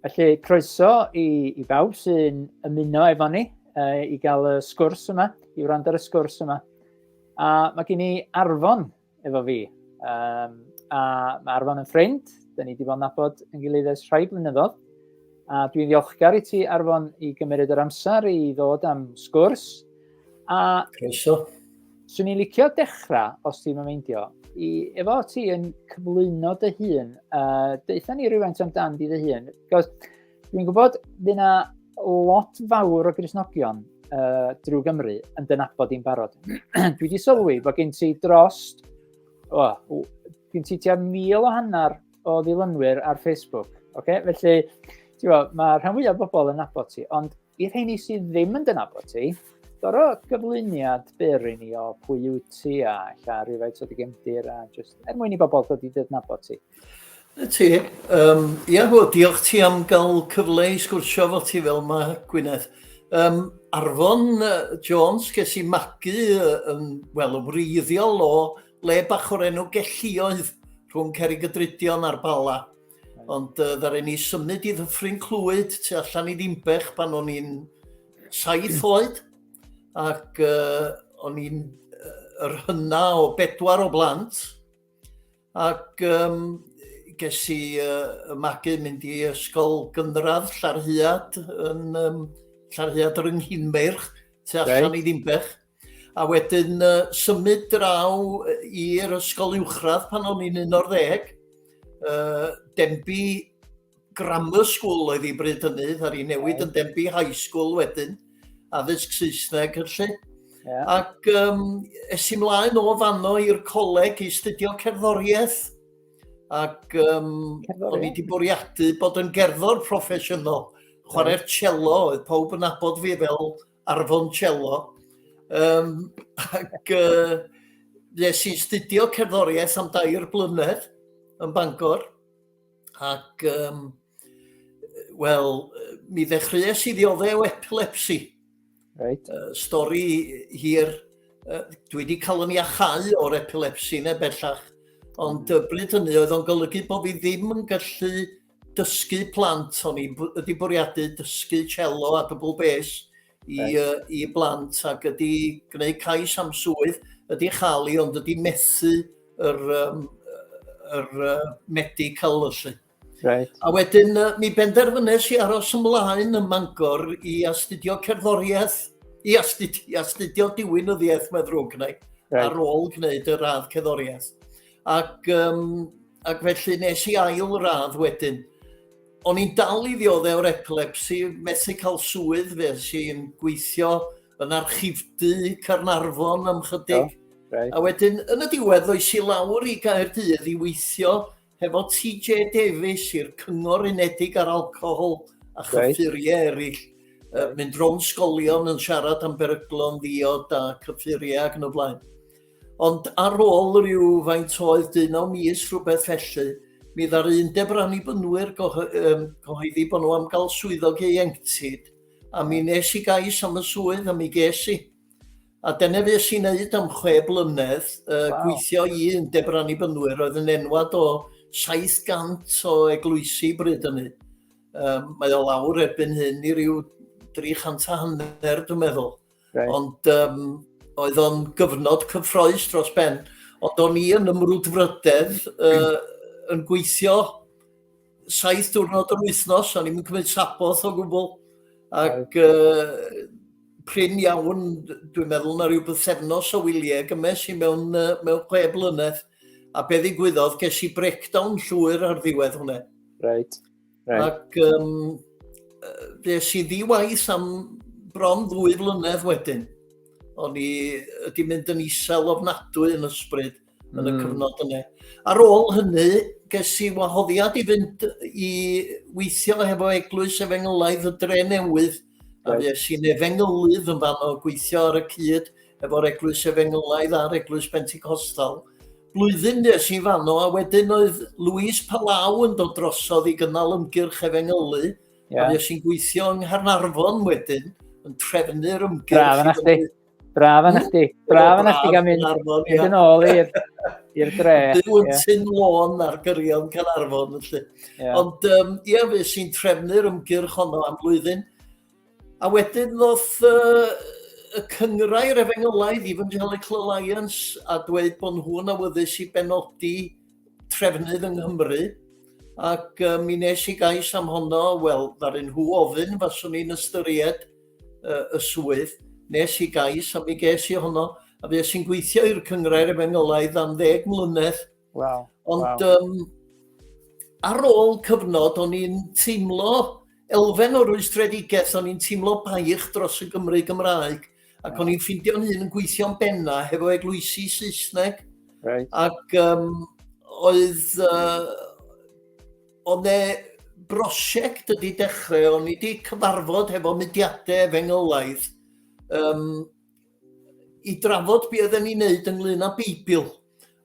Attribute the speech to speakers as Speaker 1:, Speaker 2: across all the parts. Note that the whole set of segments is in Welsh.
Speaker 1: Felly, croeso i, i bawb sy'n ymuno efo ni uh, i gael y sgwrs yma, i wrando ar y sgwrs yma. A mae gen i Arfon efo fi. Um, a mae Arfon yn ffrind, da ni wedi bod yn nabod yn gilydd ers rhai blynyddoedd. A dwi'n ddiolchgar i ti, Arfon, i gymryd yr amser i ddod am sgwrs. A... Croeso.
Speaker 2: Swn i'n licio
Speaker 1: dechrau, os ti'n meindio, i, efo ti yn cyflwyno dy hun, uh, deutha ni rhywfaint amdan di dy hun, cos dwi'n gwybod fydd yna lot fawr o grisnogion uh, drwy Gymru yn dynabod i'n barod. Dwi wedi sylwi bod gen ti dros, oh, gen ti tua mil o hanner o ddilynwyr ar Facebook. Okay? Felly, ti'n bod, mae rhan fwyaf o bobl yn nabod ti, ond I rheini sydd ddim yn dynabod ti, goro gyflwyniad byr i ni o pwy yw ti a lla rhywfaint o dy gefndir a just er mwyn i bobl dod i dydnabod ti. Na ti.
Speaker 2: Um, ia, hw, diolch ti am gael cyfle i sgwrsio fo ti fel mae Gwyneth. Um, Arfon Jones, ges i magu yn, wel, yn wreiddiol o le bach o'r enw Gellioedd rhwng Cerrig y Drudion a'r Bala. Ond uh, ddaru ni symud i ddyffryn Clwyd tu allan i Ddimbech pan o'n i'n saith oed ac uh, o'n i'n uh, yr hynna o bedwar o blant ac um, ges i uh, magu mynd i ysgol gynradd Llarhiad yn um, Llarhiad yr Ynghinmeirch tu allan okay. i Ddimbech. A wedyn uh, symud draw i'r ysgol uwchradd pan o'n i'n 11. Uh, Denbi Grammar School oedd i bryd hynny, ar ei newid yn Denbi High School wedyn, addysg Saesneg felly. Yeah. Ac um, es i mlaen o fanno i'r coleg i studio cerddoriaeth. Ac um, o'n i wedi bwriadu bod yn gerddor proffesiynol. Chwarae'r cello, oedd pawb yn abod fi fel ar foncello, um, ac uh, nes i studio cerddoriaeth am dair blynedd yn Bangor, ac um, wel, mi ddechreuais i ddiodde o epilepsi. Right. Uh,
Speaker 1: stori
Speaker 2: hir, uh, dwi wedi cael yn iachau o'r epilepsi neu bellach, ond y bryd hynny oedd o'n golygu bod fi ddim yn gallu dysgu plant, o'n i'n ydi bwriadu dysgu cello a dwbl bes i, right. uh, i blant ac ydi gwneud cais am swydd, ydi chael ei ond ydi methu yr, um, yr uh, medical yslu. Right. A wedyn
Speaker 1: uh, mi
Speaker 2: benderfynes i aros ymlaen ym Mangor i astudio cerddoriaeth, i astudio, i astudio diwinyddiaeth mae ddrwg neu, right. ar ôl gwneud y radd cerddoriaeth. Ac, um, ac felly nes i ail radd wedyn. O'n i'n dal i ddioddau o'r epilepsi, methu cael swydd, fe sy'n gweithio yn archifdy Carnarfon am chydig. Oh, right. A wedyn, yn y diwedd, oes i lawr i Gaerdydd i weithio hefo TJ Davies i'r Cyngor Unedig ar Alcohol a chyffuriau right. eraill. Uh, mynd rown sgolion yn siarad am beryglon ddiod a cyffuriau ac yn y blaen. Ond ar ôl rhyw faint oedd dyn o mis rhywbeth felly, mi dda'r undeb yr annibynwyr gyhoeddi bod nhw am gael swyddog ieuenctid, a mi nes i gais am y swydd a mi ges i. A dyna fes i'n neud am chwe blynedd, uh, wow. gweithio i undeb yr annibynwyr, oedd yn enwad o 700 o eglwysi bryd yny. Um, mae o lawr erbyn hyn i ryw 300 a hanner, dwi'n meddwl. Right. Ond um, oedd o'n gyfnod cyffroes dros ben. Ond o'n i yn ymrwdfrydedd uh, yn gweithio saith diwrnod yr wythnos, o'n i'n cymryd saboth o gwbl. Ac uh, prin iawn, dwi'n meddwl na rhyw bythefnos o wyliau gymes i mewn, uh, mewn chwe blynedd. A be ddigwyddodd, ges i breakdown llwyr ar ddiwedd hwnna. Right.
Speaker 1: Right. Ac
Speaker 2: um, fes i ddiwaith am bron ddwy flynedd wedyn. O'n i wedi mynd yn isel ofnadwy yn ysbryd mm. yn y hmm. cyfnod yna. Ar ôl hynny, ges i wahoddiad i fynd i weithio hefo eglwys efengylaidd y dre newydd. A fes i'n efengylydd yn fan o gweithio ar y cyd efo'r eglwys efengylaidd a'r eglwys Pentecostal. blwyddyn nes i fanno, a wedyn oedd Louise Palau yn dod drosodd i gynnal ymgyrch efengylu, yeah. a fues i'n gweithio yng Ngharnarfon wedyn, yn trefnu'r ymgyrch. Braf yna chdi,
Speaker 1: braf yna chdi, braf yna chdi gael mynd yn ôl i'r i'r dre. Byw yn tyn
Speaker 2: lôn ar gyrion Carnarfon, felly. Yeah. Ond, um, ia, fe sy'n trefnu'r ymgyrch honno am flwyddyn. A wedyn ddoth uh, y cyngrau refengylaidd, Evangelical Alliance, a dweud bod nhw'n awyddus i benodi trefnydd yng Nghymru. Ac uh, mi nes i gais am honno, wel, ddaru nhw ofyn, faswn i'n ystyried uh, y swydd. Nes i gais a mi ges i honno, a fe sy'n gweithio i'r cyngrau refengylaidd am ddeg mlynedd Wow. Ond
Speaker 1: wow. Um,
Speaker 2: ar ôl cyfnod, o'n i'n teimlo elfen o rwystredigaeth, o'n i'n teimlo baich dros y Gymru Gymraeg, ac o'n i'n ffindio'n hun yn gweithio'n benna hefo eglwysi Saesneg. Right. Ac
Speaker 1: um,
Speaker 2: oedd, uh, oedd e brosiect ydi dechrau, o'n i wedi cyfarfod hefo mudiadau efengylaidd, um, i drafod be oedden ni'n neud ynglyn â Beibl,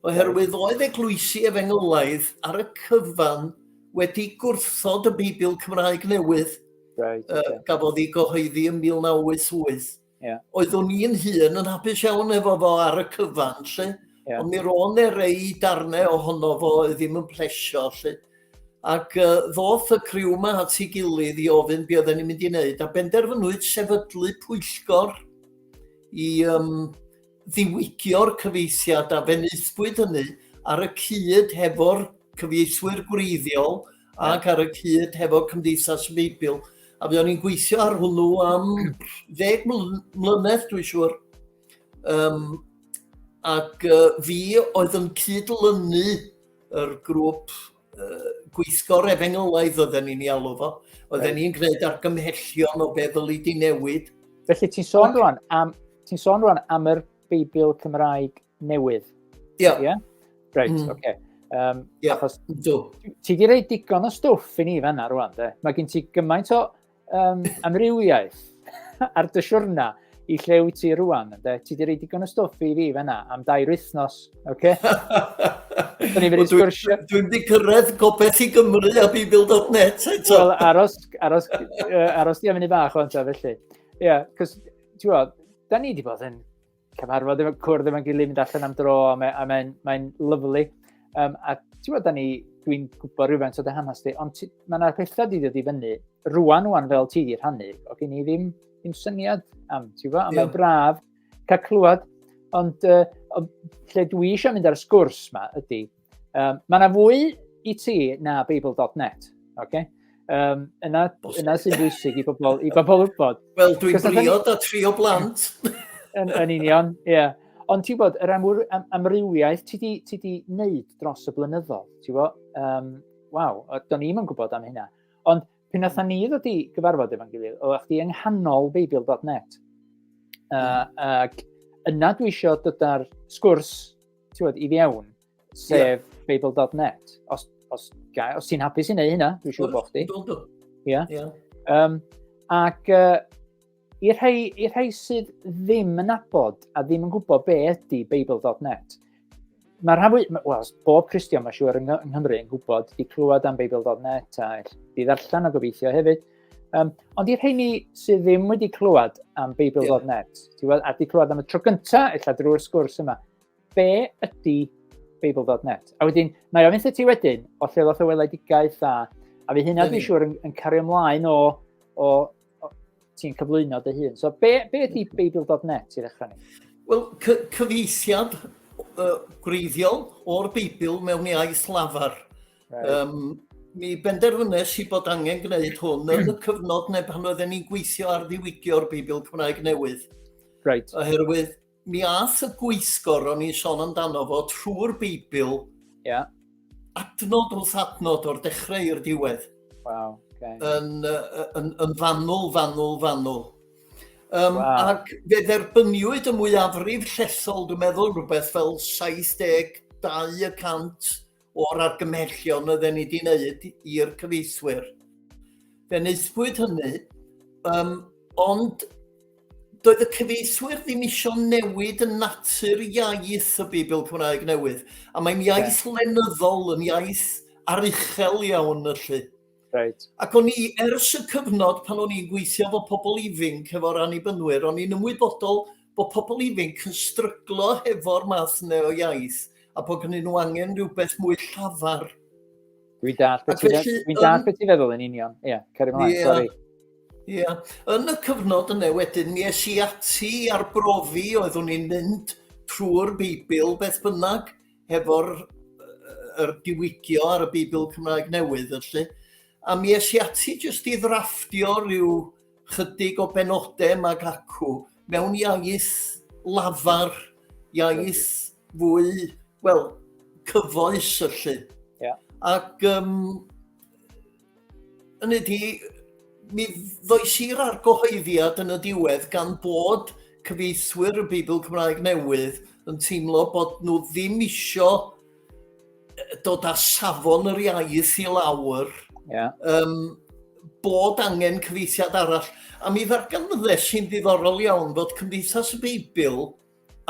Speaker 2: oherwydd oedd eglwysi efengylaidd ar y cyfan wedi gwrthod y Beibl Cymraeg newydd, right, uh, yeah. gafodd ei gyhoeddi yn 1988. Yeah. Oeddwn i'n hun yn hapus iawn efo fo ar y cyfan, lle, yeah. ond mi ro'n e rei darnau ohono fo oedd ddim yn plesio, lle. Ac uh, ddoth y criw yma at ei gilydd i ofyn be oedden ni'n mynd i wneud, a benderfynwyd sefydlu pwyllgor i um, ddiwygio'r cyfeithiad a fenythbwyd hynny ar y cyd hefo'r cyfeithwyr gwreiddiol ac ar y cyd hefo Cymdeithas y Beibl. A fe o'n i'n gweithio ar hwnnw am ddeg mlynedd, dwi'n siŵr. Um, ac uh, fi oedd yn cydlynu yr grŵp uh, gweithgor efengylaidd oedden ni'n ei alw fo. Oedden ni'n gwneud argymhellion o be ddylu di newid. Felly ti'n sôn
Speaker 1: rwan am, ti sôn rwan am yr Beibl Cymraeg newydd. Ie. Yeah. Yeah? Reit, mm. oce. Okay. Um, yeah, achos, do. Ti di rei digon o stwff i ni fanna rwan, de. Mae gen ti gymaint o um, amrywiaeth ar dy siwrna i lle wyt ti rwan. Ynde? Ti wedi rhoi digon o stwff i fi fanna am dair wythnos. Okay? Dwi'n ni'n mynd sgwrsio.
Speaker 2: Dwi wedi cyrraedd gobeth i Gymru a Bibl.net eto. Wel, aros,
Speaker 1: aros, uh, aros di am i ni bach o'n ta felly. Ie, yeah, cos, ti'n gwybod, da ni wedi bod yn cyfarfod efo cwrdd efo'n gilydd, mynd allan am dro, a mae'n mae, mae, mae lyflu. Um, a ti'n bod, ni, dwi'n gwybod rhywfaint o dy hanes ti, ond mae yna pethau di ddod i fyny, rwan rwan fel ti di rhannu, o gen i ddim, ddim syniad am, ti'n bod, a mae'n braf cael clywed, ond uh, lle dwi eisiau mynd ar y sgwrs ma ydy, Um, mae yna fwy i ti na Babel.net, oce? Okay? Um, yna, yna sy'n bwysig i bobl, i bobl wybod. Wel, dwi'n briod
Speaker 2: a tri o blant. yn, yn
Speaker 1: union, ie. Yeah. Ond ti'n bod, yr amwyr, am, amrywiaeth ti di, ti di wneud dros y blynyddoedd, ti'n bod, um, waw, do'n i'm yn gwybod am hynna. Ond pyn atho ni ddod i gyfarfod efo'n gilydd, o chdi yng nghanol Babel.net. Uh, ac yna dwi eisiau dod ar sgwrs tiwod, i fiewn, sef yeah. Babel.net. Os, os, os ti'n hapus i wneud hynna, dwi'n siŵr bod chdi. Dwi'n dwi'n. Ie. Ie. Um, ac uh, i'r rhai, i rhai sydd ddim yn abod a ddim yn gwybod be ydy Babel.net, mae rhan fwy, wel, bob Christian mae siŵr yng Nghymru yn gwybod, di clywed am Babel.net a di ddarllen o gobeithio hefyd, Um, ond i'r rheini sydd ddim wedi clywed am Beibl yeah. Net, ti weld, a wedi clywed am y tro gyntaf, eitha drwy'r sgwrs yma, be ydy Beibl Net? A wedyn, mae ofyn lle ti wedyn, o lle ddoth y weledigaeth a, a fi hynna dwi'n siŵr yn, yn cario ymlaen o, o, o ti'n cyflwyno dy hun. So, be, be ydy Beibl Net i ddechrau ni? Wel, cy
Speaker 2: cyfeithiad uh, gwreiddiol o'r Beibl mewn iaith lafar. Um, mi benderfynnes i bod angen gwneud hwn yn y cyfnod neu pan oedden ni'n gweithio ar ddiwygio'r Beibl Cymraeg Newydd. Right.
Speaker 1: Oherwydd
Speaker 2: mi ath y gweithgor o'n i'n sôn amdano fo trwy'r Beibl yeah. adnod wrth adnod o'r dechrau i'r diwedd. Wow, okay.
Speaker 1: yn,
Speaker 2: yn, yn fanwl, fanwl, fanwl. Um, wow. Ac fe dderbyniwyd y mwyafrif llethol, dwi'n meddwl, rhywbeth fel 72 y cant o'r argymhellion oedden ni wedi wneud i'r cyfeithwyr. Fe wnaethpwyd hynny, um, ond doedd y cyfeithwyr ddim eisiau newid yn natur iaith y Bibl Cymraeg newydd. A mae'n iaith yeah. lenyddol, yn iaith aruchel iawn felly. Right. Ac
Speaker 1: o'n i, ers y
Speaker 2: cyfnod pan o'n i'n gweithio fo pobl ifinc efo'r annibynnwyr, o'n i'n ymwybodol bod pobl ifanc yn stryglo hefo'r math yna o iaith a bod gennyn nhw angen rhywbeth mwy llafar. Dwi'n
Speaker 1: dall beth ti'n fe, ti feddwl yn union. Ie, yeah, ceri mlaen, yeah. sori. Ie. Yeah.
Speaker 2: Yn y cyfnod yna wedyn, mi es i ati ar brofi oedd o'n i'n mynd trwy'r Beibl beth bynnag hefo'r er diwygio ar y Beibl Cymraeg Newydd, felly. A mi es i ati jyst i ddrafftio rhyw chydig o benodau mag acw mewn iaith lafar, iaith fwy, wel, cyfoes yllu. Yeah. Ac um, yn ydy, mi ddoes i'r argyhoeddiad yn y diwedd gan bod cyfeithwyr y Beibl Cymraeg Newydd yn teimlo bod nhw ddim isio dod â safon yr iaith i lawr, yeah. um, bod angen cyfeithiad arall. A mi ddarganfyddes sy'n ddiddorol iawn fod Cymdeithas y Beibl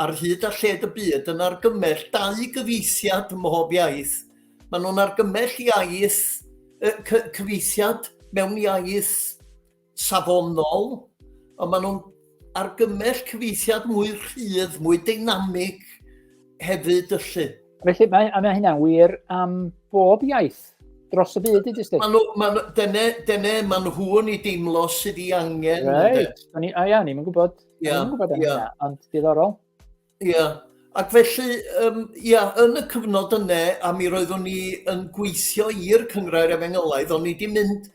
Speaker 2: ar hyd a lled y byd yn argymell dau gyfeithiad ym mhob iaith. Maen nhw'n argymell iaith, cyfeithiad mewn iaith safonol, ond maen nhw'n argymell cyfeithiad mwy rhydd, mwy deinamig hefyd yllu. Felly mae, mae
Speaker 1: hynna'n wir am bob iaith dros y byd i dysgu. Maen nhw, maen, dyne, dyne
Speaker 2: maen nhw yn ei deimlo sydd i angen. Right. Ni, a ia,
Speaker 1: ni'n gwybod. Ia, yeah, ia. Yeah. Ond diddorol. Ie. Yeah.
Speaker 2: Ac felly, um, ia, yn y cyfnod yna, a mi roeddwn ni yn gweithio i'r Cyngrair Efengylaidd, o'n ni wedi mynd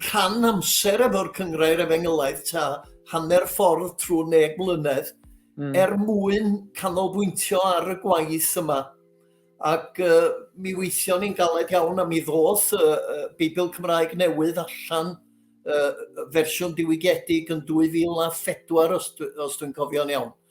Speaker 2: rhan amser efo'r Cyngrair Efengylaidd ta hanner ffordd trwy neg mlynedd, mm. er mwyn canolbwyntio ar y gwaith yma. Ac uh, mi weithio ni'n galed iawn am i ddoth uh, uh, Beibl Cymraeg newydd allan uh, fersiwn diwygiedig yn 2004 os, dwi, os dwi'n cofio'n iawn.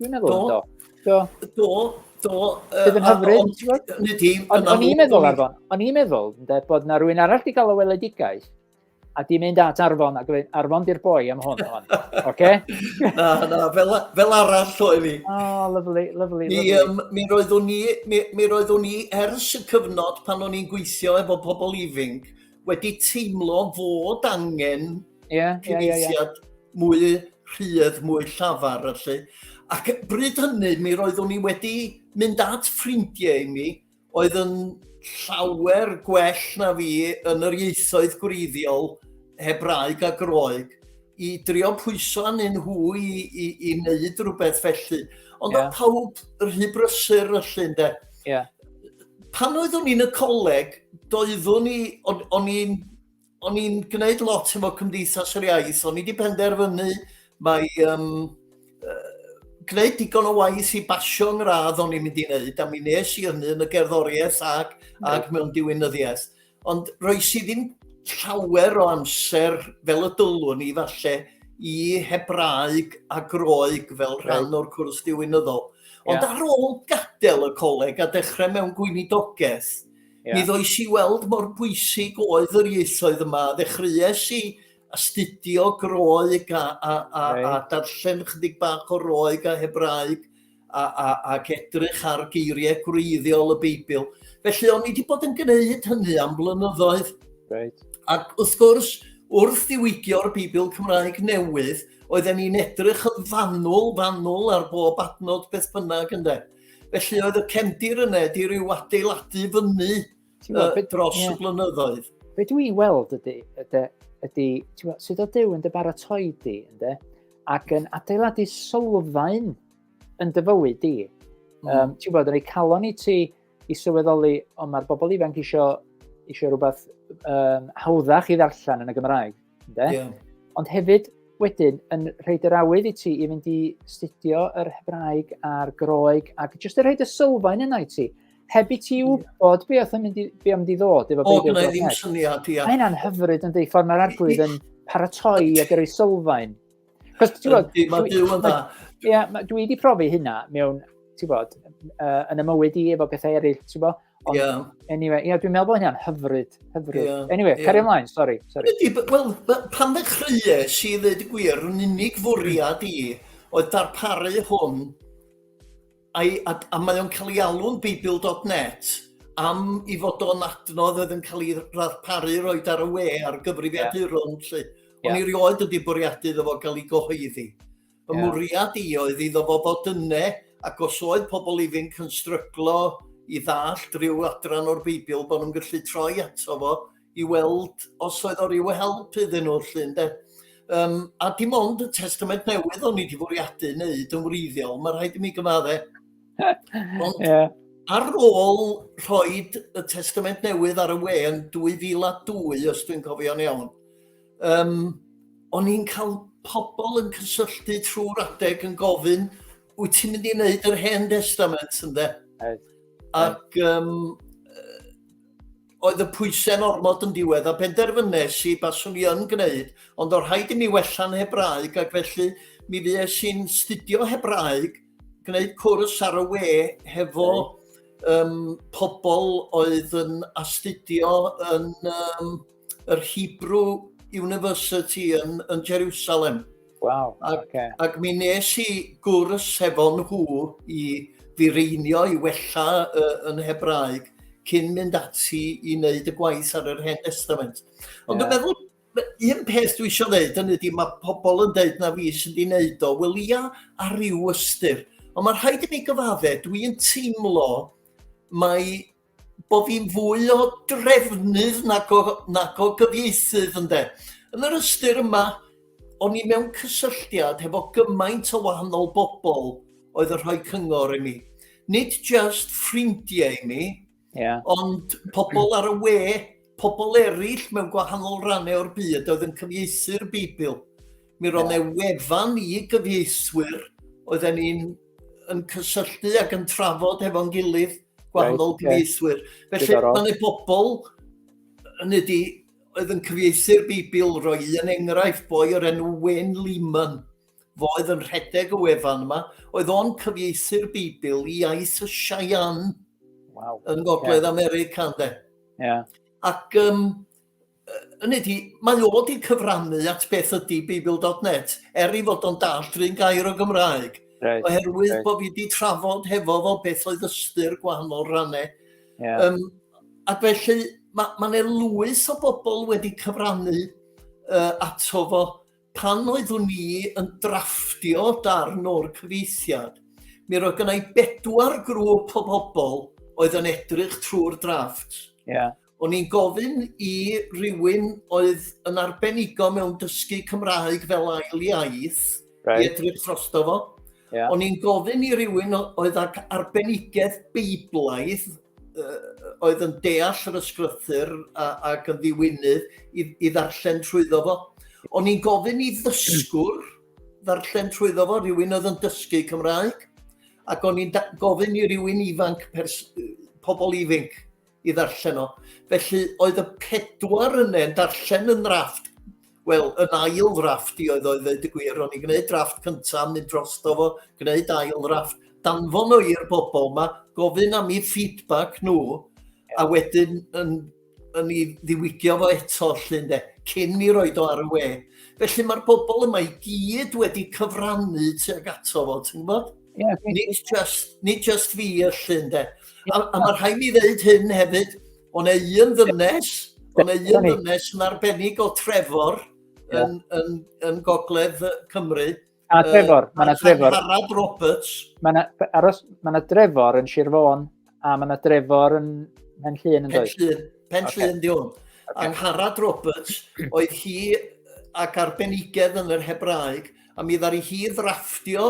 Speaker 1: Dwi'n meddwl yn do. Do. Do. Do. Bydd yn hyfryd. Ond ti, Ond o'n i'n meddwl, Arfon, o'n i'n meddwl, ynde, bod na rwy'n arall di gael o weledigaeth, a di mynd at Arfon, a gweud, Arfon di'r boi am hwn, hon. Oce? na, na,
Speaker 2: fel, fel arall o i fi. Oh, lovely, lovely, mi,
Speaker 1: lovely. Um, mi
Speaker 2: roeddwn ni, mi, mi roeddwn ni ers y cyfnod pan o'n i'n gweithio efo pobl ifing, wedi teimlo fod angen yeah, cyfeithiad yeah, yeah, yeah. mwy rhydd, mwy llafar, felly. Ac bryd hynny, mi roeddwn i wedi mynd at ffrindiau i mi, oedd yn llawer gwell na fi yn yr ieithoedd gwreiddiol Hebraeg a Groeg, i drio pwyso anyn nhw i, i, i wneud rhywbeth felly. Ond yeah. pawb rhy brysur felly, ynde? Yeah. Pan oeddwn i'n y coleg, doeddwn i, o'n i'n o'n i'n gwneud lot efo Cymdeithas yr Iaith, o'n i wedi penderfynu mae um, uh, gwneud digon o waith i basio yn radd o'n i'n mynd i wneud, a mi nes i hynny yn y gerddoriaeth ac, ac mewn diwinyddiaeth. Ond roes i ddim llawer o amser fel y dylwn i falle i Hebraeg a Groeg fel rhan o'r cwrs diwynyddol. Ond ar ôl gadael y coleg a dechrau mewn gweinidogaeth, yeah. mi ddoes i weld mor bwysig oedd yr ieithoedd yma. Ddechreuais i astudio Groeg a, a, a, right. a darllen chydig bach o Roeg a Hebraeg a, a, ac edrych ar geiriau gwreiddiol y Beibl. Felly, o'n i wedi bod yn gwneud hynny am blynyddoedd. Right. Ac wrth gwrs, wrth ddiwygio'r Beibl Cymraeg newydd, oedden ni'n edrych yn fanwl, fanwl ar bob adnod beth bynnag ynddo. Felly oedd y cefndir yna di ryw adeiladu fyny Ti'n gwybod, beth, dros yeah. y blynyddoedd.
Speaker 1: Be dwi'n weld ydy, ydy, ydy ti'n sydd o Dyw yn dy baratoi di, ynddo, ac yn adeiladu sylfaen yn dy fywyd di. Mm. Um, ti'n gwybod, yn ei calon i ti i sylweddoli, ond mae'r bobl ifanc eisiau, eisiau rhywbeth um, hawddach i ddarllen yn y Gymraeg. Ynde? Yeah. Ond hefyd, wedyn, yn rhaid yr awydd i ti i fynd i studio yr Hebraeg a'r Groeg, ac jyst yn rhaid y sylfaen yna i ti. Heb i ti wybod be oedd yn mynd i, be mynd i ddod. Efo o, gwneud ddim syniad,
Speaker 2: ia. Mae hynna'n hyfryd yn dweud
Speaker 1: ffordd mae'r arglwydd yn paratoi a gyrru sylfaen. Cos, ti'n
Speaker 2: bod...
Speaker 1: Mae byw
Speaker 2: yn
Speaker 1: dda. Ia, dwi
Speaker 2: wedi
Speaker 1: profi hynna
Speaker 2: mewn,
Speaker 1: ti'n bod, yn y mywyd i efo bethau eraill, ti'n bod, Ond, yeah. anyway, yeah, dwi'n meddwl bod hynna'n hyfryd, hyfryd. Yeah, anyway, yeah. carry ymlaen, sori. sorry. Wel,
Speaker 2: pan ddechreuais i ddweud y gwir, yn unig fwriad i oedd darparu hwn, a, a, a mae o'n cael ei alw'n Beibl.net, am i fod o'n adnodd oedd yn cael ei ddarparu roed ar y we ar gyfrifiaduron, yeah. lle. Ond yeah. i rioed wedi bwriadu iddo fo gael ei gyhoeddi. Fy yeah. mwriad i oedd iddo fo fod yne, ac os oedd pobl ifinc yn stryglo i ddallt rhyw adran o'r Beibl, bod nhw'n gallu troi ato fo i weld os oedd o ryw help iddyn nhw lle, ynde? Um, a dim ond y testament newydd o'n i wedi fwriadu wneud yn wreiddiol, mae rhaid i mi gymadde. Ond yeah. ar ôl rhoi y testament newydd ar y we yn 2002, os dwi'n cofio'n iawn, Um, o'n i'n cael pobl yn cysylltu trwy'r adeg yn gofyn, wyt ti'n mynd i wneud yr hen testament ynde? Oed. Ac um, oedd y pwysau'n ormod yn diwedd a benderfynes i baswn i yn gwneud, ond o'r rhaid i mi wella'n Hebraeg ac felly mi fues i'n studio Hebraeg, gwneud cwrs ar y we hefo um, pobl oedd yn astudio yn um, yr Hebrew University yn, yn Jerusalem. Wow, ac,
Speaker 1: okay. ac mi
Speaker 2: nes i gwrs hefo nhw i fireinio i wella uh, yn Hebraeg cyn mynd ati i wneud y gwaith ar yr Hen Testament. Ond yeah. dwi'n meddwl un peth dwi eisiau dweud yn ydy mae pobl yn dweud na fi sy'n di wneud o, wel ia ar ryw ystyr. Ond mae rhaid i mi gyfadde, dwi'n teimlo mae bod fi'n fwy o drefnydd nag o, nag o gyfieithydd ynde. Yn yr ystyr yma, o'n i mewn cysylltiad hefo gymaint o wahanol bobl oedd yn rhoi cyngor i mi. Nid just ffrindiau i mi, yeah. ond pobl ar y we, pobl eraill mewn gwahanol rannau o'r byd oedd yn cyfieithu'r Beibl. Mi roedd yeah. e wefan i gyfieithwyr oedden ni'n yn cysylltu ac yn trafod hefo'n gilydd gwahanol gyfieithwyr. Felly mae yna bobl yn ydi, oedd yn cyfieithu'r Bibl, roi un enghraifft, boi o'r enw Wen Lehman, fo oedd yn rhedeg y wefan yma, oedd o'n cyfieithu'r Bibl i iaith y Cheyenne wow. yn Gogledd okay. America, ynddo. Yeah. Ac um, yn ydi, mae o wedi cyfrannu at beth ydy Beibl.net, er i fod o'n dall drin gair o Gymraeg. Right, oherwydd right. bod fi wedi trafod hefo fo beth oedd ystyr gwahanol rannau. Yeah. Um, ac felly, mae ma yna lwys o bobl wedi cyfrannu uh, ato fo pan oeddwn ni yn drafftio darn o'r cyfeithiad. Mi roedd gennau bedwar grŵp o bobl oedd yn edrych trwy'r drafft. Yeah. O'n i'n gofyn i rywun oedd yn arbenigo mewn dysgu Cymraeg fel ail iaith right. i edrych drosto fo. Yeah. O'n i'n gofyn i rywun oedd ag arbenigaeth beiblaidd uh, oedd yn deall yr ysgrythyr ac yn ddiwynydd i, i ddarllen trwyddo fo. O'n i'n gofyn i ddysgwr ddarllen trwyddo fo, rhywun oedd yn dysgu Cymraeg, ac o'n i'n gofyn i rywun ifanc, pobl ifanc, i ddarllen o. Felly oedd y pedwar yne yn darllen yn drafft, wel, yn ail drafft i oedd oedd ddeud y gwir, o'n i'n gwneud drafft cyntaf, mynd dros do fo, gwneud ail drafft, danfon o i'r bobl yma, gofyn am i feedback nhw, a wedyn yn, yn ei ddiwygio fo eto lle ynde, cyn i roed o ar y we. Felly mae'r bobl yma i gyd wedi cyfrannu tuag ato fo, ti'n gwybod? Yeah, nid, just, nid just fi y llun de. A, a mae rhaid mi ddeud hyn hefyd, ond ei un ddynes, ond ei un ddynes yn arbennig o Trevor yeah. yn, yn, yn gogledd Cymru. A Trevor,
Speaker 1: uh, mae yna Trevor. Harald Roberts.
Speaker 2: Mae yna, aros,
Speaker 1: mae yna Trevor yn Sir Fôn, A mae yna Drefor yn Pen Llun yn dweud? Pen Llun, Pen okay. Llun di hwn.
Speaker 2: Okay. Angharad Roberts, oedd hi ac arbenigedd yn yr Hebraeg, a mi ddari hi ddrafftio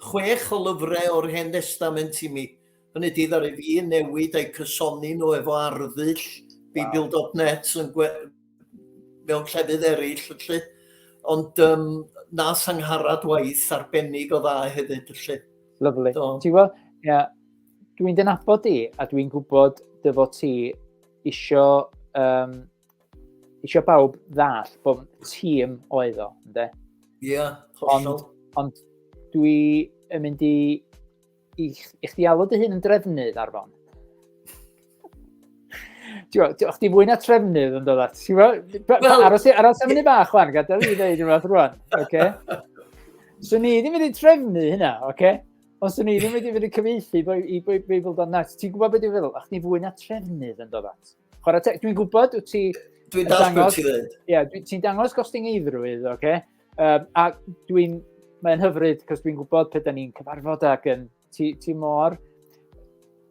Speaker 2: chwech o lyfrau o'r Hen Testament i mi. Hynny di ddari fi newid a'i cysoni nhw efo arddull Bible.net wow. yn gwe... mewn llefydd eraill. Felly. Ond um, nas angharad waith arbennig o dda hefyd. Felly. Lyflu.
Speaker 1: Ti'n gweld? Ie. Yeah Dwi'n dyn abod di, a dwi'n gwybod dy fod ti isio, um, isio bawb ddall bod tîm oedd o, ynddo? Ie, yeah, hollol. Ond, ond dwi yn mynd i, i, i chdi alw dy hun yn drefnydd ar fon. Diolch chdi fwy na trefnydd yn dod at. Aros, aros am hynny bach chwan, gadael i ddeud rhywbeth rwan. Okay? So ni ddim wedi trefnu hynna, oce? Okay? Os o'n i ddim wedi fynd i cyfeithi i Beibl dan net, ti'n gwybod beth dwi'n feddwl? Ach, ni fwy na trefnydd yn dod at. Chwarae teg, dwi'n gwybod, wyt ti... Dwi'n dall
Speaker 2: beth ti'n dweud. Ie, ti'n dangos
Speaker 1: gosting eidrwydd, oce? Okay? Um, a dwi'n... Mae'n hyfryd, cos dwi'n gwybod pe da ni'n cyfarfod ac yn... Ti, ti mor...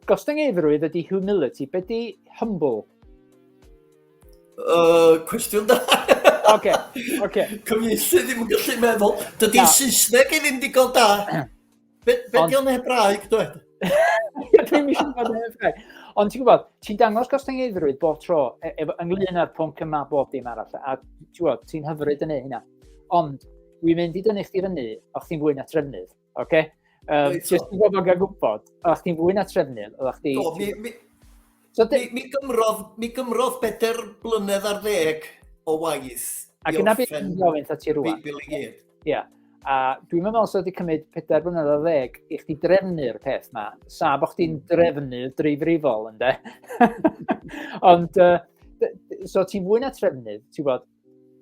Speaker 1: Gosting eidrwydd ydy humility. Be di humble? Uh,
Speaker 2: cwestiwn da. Oce,
Speaker 1: oce. Cyfieithu
Speaker 2: ddim yn gallu meddwl. Dydy'r Saesneg i ddim digon da. Be, be Ond... di o'n hebraeg, dweud? Dwi'n
Speaker 1: eisiau bod yn hebraeg. Ond ti'n gwybod, ti'n dangos gostyngeidrwydd bob tro e, e, ynglyn â'r pwnc yma bob dim arall. A ti'n gwybod, ti'n hyfryd yn ei hynna. Ond dwi'n mynd i dynnu chdi fyny, o chdi'n fwy na trefnydd. Oce? Okay? Um, Jyst i bobl gael gwybod, oeddech chdi'n fwy na trefnydd, oeddech chdi... Do, mi, mi, so, mi, mi, gymrodd, mi gymrodd bedair blynedd ar ddeg o waith. Ac yna beth yn gofyn ta ti rwan. Beibl i gyd. Ie.
Speaker 2: A
Speaker 1: dwi'n meddwl sef wedi cymryd pedair blynedd ar ddeg i chdi drefnu'r peth ma. Sa, bod chdi'n hmm. drefnu dreifrifol, ynddo. Ond, uh, so ti'n fwy na trefnydd, ti'n bod,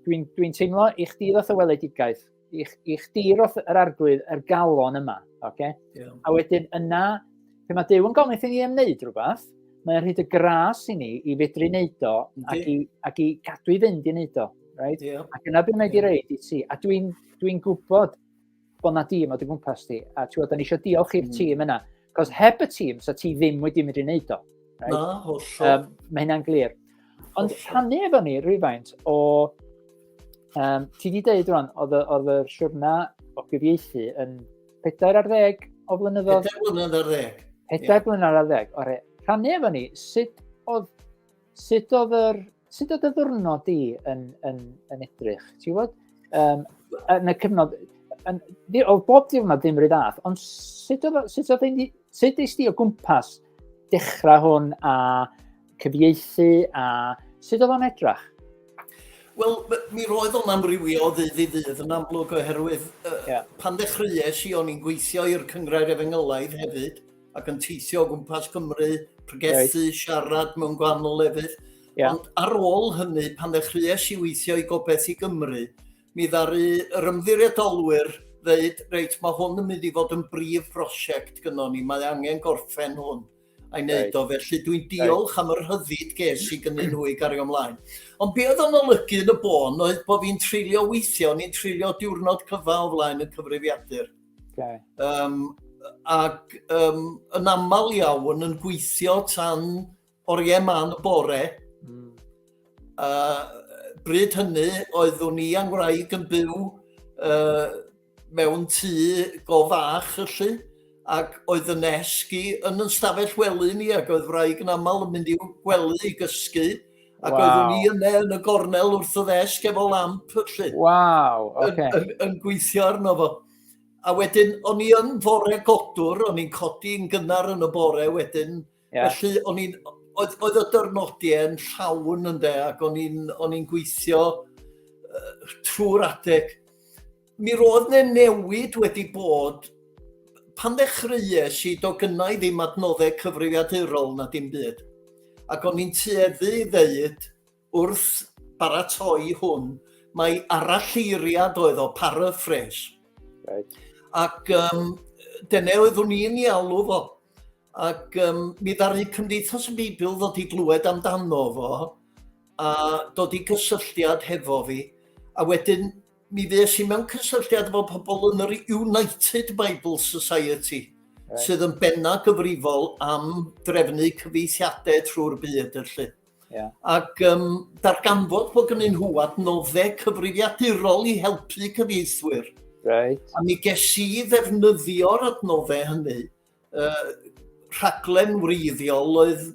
Speaker 1: dwi'n dwi teimlo i chdi ddoth o weledigaeth i, i chdi roth yr arglwydd yr galon yma. Okay? Yeah. A wedyn yna, pe mae Dyw yn gofyn i ni ymwneud rhywbeth, mae'n rhaid y gras i ni i fedru wneud o ac i, ac i gadw i fynd i wneud o. Right? Yeah. Ac yna bydd wneud i reid i ti. A dwi'n dwi, dwi gwybod bod na dîm o dy gwmpas ti. A ti'n gwybod, da ni eisiau diolch i'r mm. tîm yna. Cos heb y tîm, so ti ddim wedi mynd i wneud o. Right? Na, hollol. Um,
Speaker 2: mae hynna'n glir.
Speaker 1: Ond rhannu efo ni rhywfaint o... Um, ti wedi dweud rwan, oedd y siwrna o gyfieithu yn 4 ar 10 o flynyddoedd? 4 blynedd ar 10. 4
Speaker 2: yeah. blynedd ar 10.
Speaker 1: Ore, rhannu efo ni, sut oedd Sut oedd yr... Sut oedd y ddwrnod di yn, yn, yn edrych? Ti'n gwybod? Um, yn y cyfnod... Yn, o bob diwrnod ddim rhaid ath, ond sut oedd, sut oedd ein, sut eist di o gwmpas dechrau hwn a cyfieithu a sut oedd o'n edrach? Wel,
Speaker 2: mi roedd o'n amrywio o ddydd i ddydd yn amlwg oherwydd uh, yeah. pan ddechreuais i o'n i'n gweithio i'r Cyngrair Efengylaidd hefyd, ac yn teithio o gwmpas Cymru, pregethu, right. siarad mewn gwahanol lefydd. Yeah. Ond ar ôl hynny, pan ddechreuais i weithio i gobeith i Gymru, mi ddaru yr ymddiriedolwyr ddeud, reit, mae hwn yn mynd i fod yn brif brosiect gyda ni, mae angen gorffen hwn a'i wneud right. o. Felly dwi'n diolch right. am yr hyddid ges i gynnyn nhw i gario ymlaen. Ond be oedd yn olygu yn y bôn oedd bod fi'n treulio weithio, ni'n treulio diwrnod cyfa o flaen y cyfrifiadur. Okay. Um, ac um, yn aml iawn yn gweithio tan oriau man y bore. Mm. Uh, bryd hynny oeddwn i a'n wraig yn byw uh, mewn tŷ go fach yllu ac oedd yn esgu yn yn stafell wely ni ac oedd wraig yn aml yn mynd i'w gwely i gysgu Ac wow. oeddwn ni yna yn y gornel wrth y ddesg efo lamp, felly. Waw, oce. Okay. Yn, yn, yn gweithio arno fo. A wedyn, o'n i yn fore godwr, o'n i'n codi yn gynnar yn y bore wedyn. Yeah. Felly, o'n i'n... Oedd, oedd y dyrnodiau yn llawn yn de, ac o'n i'n gweithio uh, trwy'r adeg. Mi roedd ne newid wedi bod pan ddechreuais i do gynnau ddim adnoddau cyfrifiadurol na dim byd. Ac o'n i'n tueddu i ddeud wrth baratoi hwn, mae aralleiriad oedd o paraphrase. Right. Ac um, dyna oeddwn i'n ei alw fo. Ac um, mi ddaru Cymdeithas y Beibl ddod i glywed amdano fo a dod i gysylltiad hefo fi. A wedyn mi fues i mewn cysylltiad efo pobl yn yr United Bible Society, right. sydd yn benna gyfrifol am drefnu cyfeithiadau trwy'r byd, felly. Yeah. Ac um, darganfod bod gynnyn nhw adnoddau cyfrifiadurol i helpu cyfeithwyr. Right. A mi ges i ddefnyddio'r adnoddau hynny uh, rhaglen wreiddiol oedd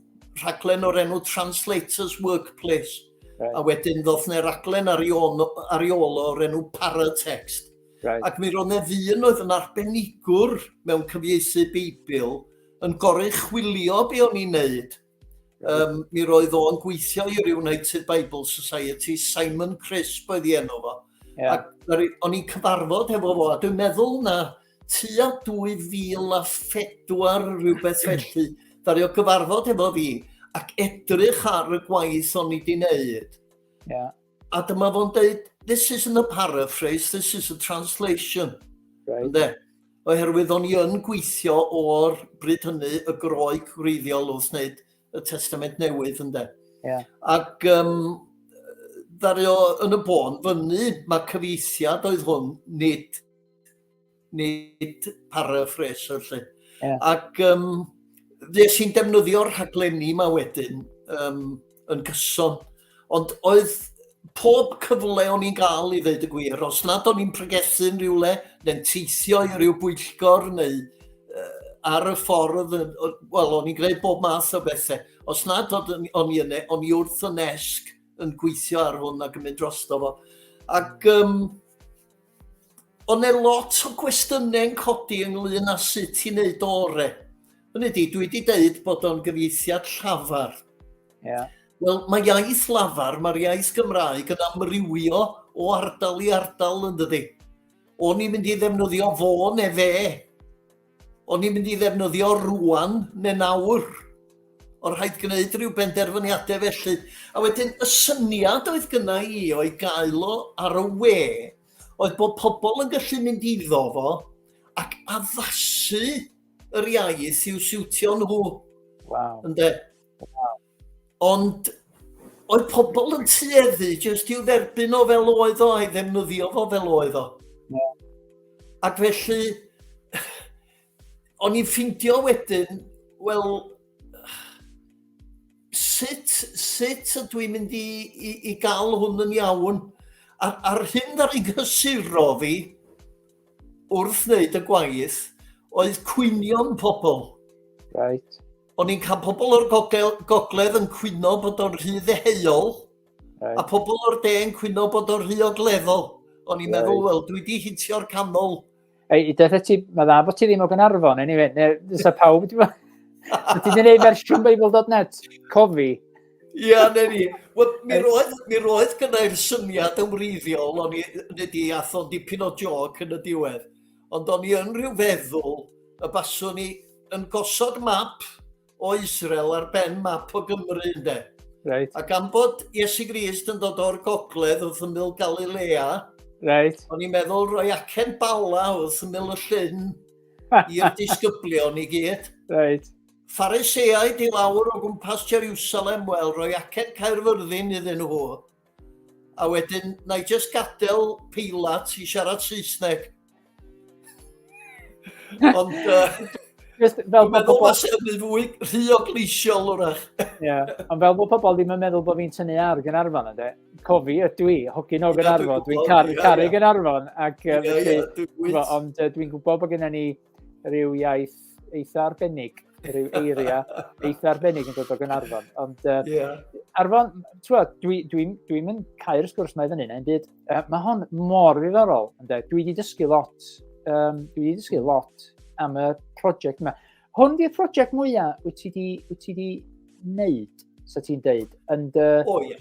Speaker 2: rhaglen o'r enw Translators Workplace. Right. A wedyn ddoth ne raglen ar ei ôl o'r enw Paratext. Right. Ac mi roedd ne ddyn oedd yn arbenigwr mewn cyfieithu Beibl yn gorau chwilio be o'n i'n neud Um, mi roedd o'n gweithio i'r United Bible Society, Simon Crisp oedd i enw fo. Yeah. Ac o'n i'n cyfarfod hefo fo, a dwi'n meddwl na tua 2004 rhywbeth felly, ddario gyfarfod hefo fi ac edrych ar y gwaith o'n i wedi wneud. Yeah.
Speaker 1: A dyma fo'n
Speaker 2: deud, this isn't a paraphrase, this is a translation. Right. Ynde?
Speaker 1: Oherwydd
Speaker 2: o'n i yn gweithio o'r bryd hynny y groi gwreiddiol wrth wneud y testament newydd, ynde? Yeah. Ac
Speaker 1: um,
Speaker 2: ddario yn y bôn fyny, mae cyfeithiad oedd hwn, nid nid paraffraser lle. Yeah. Ac
Speaker 1: um,
Speaker 2: ddes i'n defnyddio'r rhaglenni yma wedyn um, yn gyson. Ond oedd pob cyfle o'n i'n gael i ddeud y gwir, os nad o'n i'n pregethu yn rhywle, neu'n teithio i ryw bwyllgor, neu uh, ar y ffordd, wel, o'n i'n gwneud bob math o bethau. Os nad o'n i yna, o'n i wrth y nesg yn gweithio ar hwn ac yn mynd drosto fo. Ac um, Ond mae lot o gwestiynau yn codi ynglyn â sut i wneud o ore. Hynny di, dwi wedi deud bod o'n gyfieithiad llafar. Yeah.
Speaker 1: Wel, mae
Speaker 2: iaith lafar, mae'r iaith Gymraeg yn amrywio o ardal i ardal yn dydy. O'n i'n mynd i ddefnyddio fo ne fe, O'n i'n mynd i ddefnyddio rwan neu nawr. O'n rhaid gwneud rhyw benderfyniadau felly. A wedyn y syniad oedd gyna i o'i gael o ar y we oedd bod pobl yn gallu mynd iddo fo ac addasu yr iaith i'w siwtio nhw. Wow. Ynde?
Speaker 1: Wow. Ond
Speaker 2: oedd pobl yn tueddu jyst i'w dderbyn o fel oedd o, a'i ddefnyddio fo fel oedd o. Yeah.
Speaker 1: Ac
Speaker 2: felly, o'n i'n ffindio wedyn, wel, sut, sut ydw i'n mynd i, i, i gael hwn yn iawn? A'r, ar hyn ddar i gysuro fi wrth wneud y gwaith oedd cwynion pobl. Right.
Speaker 1: o'n i'n cael
Speaker 2: pobl o'r gogel, gogledd yn cwyno bod o'n rhy ddeheuol, right. a pobl o'r de yn cwyno bod o'n rhy ogleddol. O'n i'n right. meddwl, wel, dwi wedi hitio'r canol. Ei, deth e
Speaker 1: ti, mae dda bod ti ddim o Gynarfon, anyway, neu dysa pawb, ti'n meddwl? Ti wedi gwneud fersiwn Bible.net, cofi. Ia,
Speaker 2: ne ni. Wel, mi roedd, mi roedd gynnau'r syniad yn wreiddiol, o'n i wedi athon dipyn o joc yn y diwedd. ond o'n i yn rhyw feddwl y baswn ni yn gosod map o Israel ar ben map o Gymru ynde. Right. A gan
Speaker 1: bod
Speaker 2: Iesu Grist yn dod o'r gogledd wrth ymyl Galilea, right.
Speaker 1: o'n i'n meddwl roi
Speaker 2: acen bala wrth ymyl y llyn i'r disgyblion i gyd. Right.
Speaker 1: Phariseaid
Speaker 2: i lawr o gwmpas Jerusalem, wel, roi acen Caerfyrddin iddyn nhw. A wedyn, na i just gadael peilat i siarad Saesneg. Ond... Uh, Just fel bod pobl... Mae'n sefyll fwy rhy o gleisiol, wrach. Ie, ond fel
Speaker 1: bod pobl ddim yn meddwl bod fi'n tynnu ar Gynarfon, ynddo. Cofi, ydw i, hogyn o Gynarfon, dwi'n caru Gynarfon, ac felly, ond dwi'n gwybod bod gennym ni rhyw iaith eitha arbennig, rhyw eiriau eitha arbennig yn dod o Gynarfon. Ond uh, yeah. Arfon, twad, dwi'n dwi, dwi, dwi cael y sgwrs mae fan hyn, byd, uh, mae hon mor ddiddorol. Dwi wedi dysgu lot, um, dwi wedi dysgu lot am y prosiect yma. Hwn di'r prosiect mwyaf wyt ti wedi wneud, sa ti'n deud, yn dy...
Speaker 2: O, ie.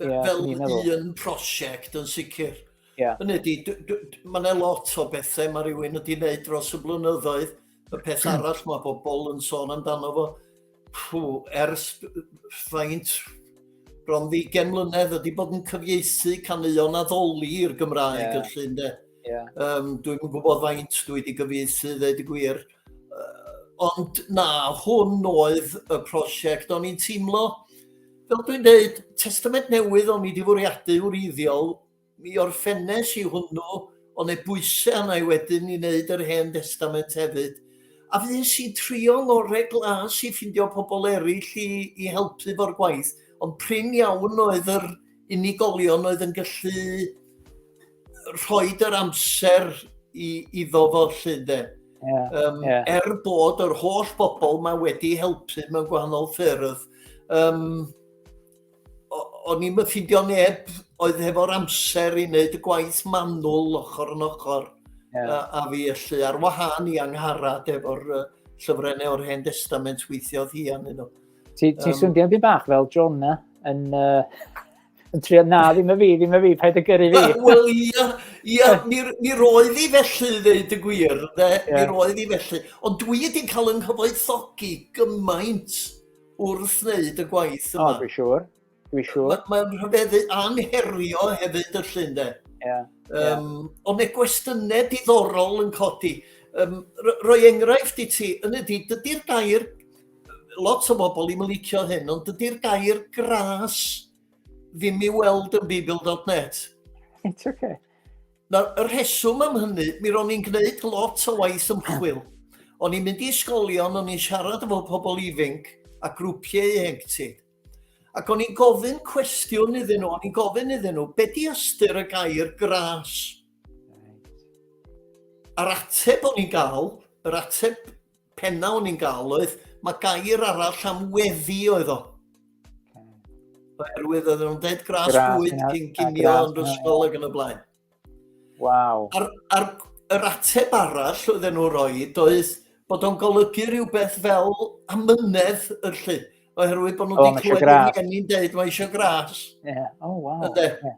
Speaker 2: Fel un prosiect yn sicr. Yeah. Hynny ydi, mae yna lot o bethau mae rhywun wedi gwneud dros y blynyddoedd. Y peth hmm. arall mae bobl yn sôn amdano fo, pw, ers faint bron ddigen mlynedd wedi bod yn cyfieithu caneuon addoli i'r Gymraeg yeah. yn llun de. Yeah. Um, Dwi'n gwybod faint dwi wedi gyfieithu, ddeud y gwir. Uh, ond na, hwn oedd y prosiect o'n i'n teimlo Fel dwi'n dweud, testament newydd o'n i wedi fwriadu wreiddiol, mi orffennes i hwnnw, ond e bwysau arna i wedyn i wneud yr Hen Destament hefyd. A fues i'n trio ngorau glas i ffindio pobl eraill i, i helpu fo'r gwaith, ond prin iawn oedd yr unigolion oedd yn gallu rhoi yr amser i, iddo fo lle de. Yeah, um, yeah. Er bod yr holl bobl mae wedi helpu mewn gwahanol ffyrdd, um, o'n i'n myffindio neb oedd hefo'r amser i wneud y gwaith manwl ochr yn ochr yeah. a, a fi allu ar wahân i angharad efo'r uh, llyfrennau o'r Hen Testament weithiodd hi
Speaker 1: arnyn
Speaker 2: nhw.
Speaker 1: Ti'n
Speaker 2: ti um,
Speaker 1: swnio'n byd bach fel
Speaker 2: John
Speaker 1: na,
Speaker 2: yn,
Speaker 1: uh, yn trio, na, ddim y fi, ddim y fi, paid y gyrru fi. Wel, ia,
Speaker 2: ia, mi, mi roedd i felly, ddeud y gwir, de, yeah. mi roedd i felly. Ond dwi wedi'n cael yng nghyfoethogi gymaint wrth wneud y gwaith yma. O, dwi siwr,
Speaker 1: dwi siwr. Mae'n ma
Speaker 2: rhyfeddu anherio hefyd y llun, de. Yeah. Um, yeah. Ond mae gwestiynau diddorol yn codi. Um, roi enghraifft i ti, yn ydy, dydy'r gair lot o bobl ddim yn licio hyn, ond dydy'r gair gras ddim i weld yn bibl.net. It's okay.
Speaker 1: Nawr, y
Speaker 2: rheswm am hynny, mi ro'n i'n gwneud lot o waith ymchwil. O'n i'n mynd i ysgolion, o'n i'n siarad efo pobl ifanc a grwpiau ieuenctid. Ac o'n i'n gofyn cwestiwn iddyn nhw, o'n i'n gofyn iddyn nhw, be di ystyr y gair gras? A'r ateb o'n i'n gael, yr ateb Penna o'n i'n gael oedd, mae gair arall am weddi oedd o. Oherwydd oedd nhw'n dead grass bwyd cyn cinio yn ysgol ac yn y blaen. Waw.
Speaker 1: A'r, ar,
Speaker 2: yr ateb arall oedd nhw'n rhoi oedd bod o'n golygu rhywbeth fel amynedd yr lle. Oherwydd bod nhw wedi clywed yn ni'n dweud mae eisiau gras.
Speaker 1: Yeah. Oh, wow. Yde. Yeah.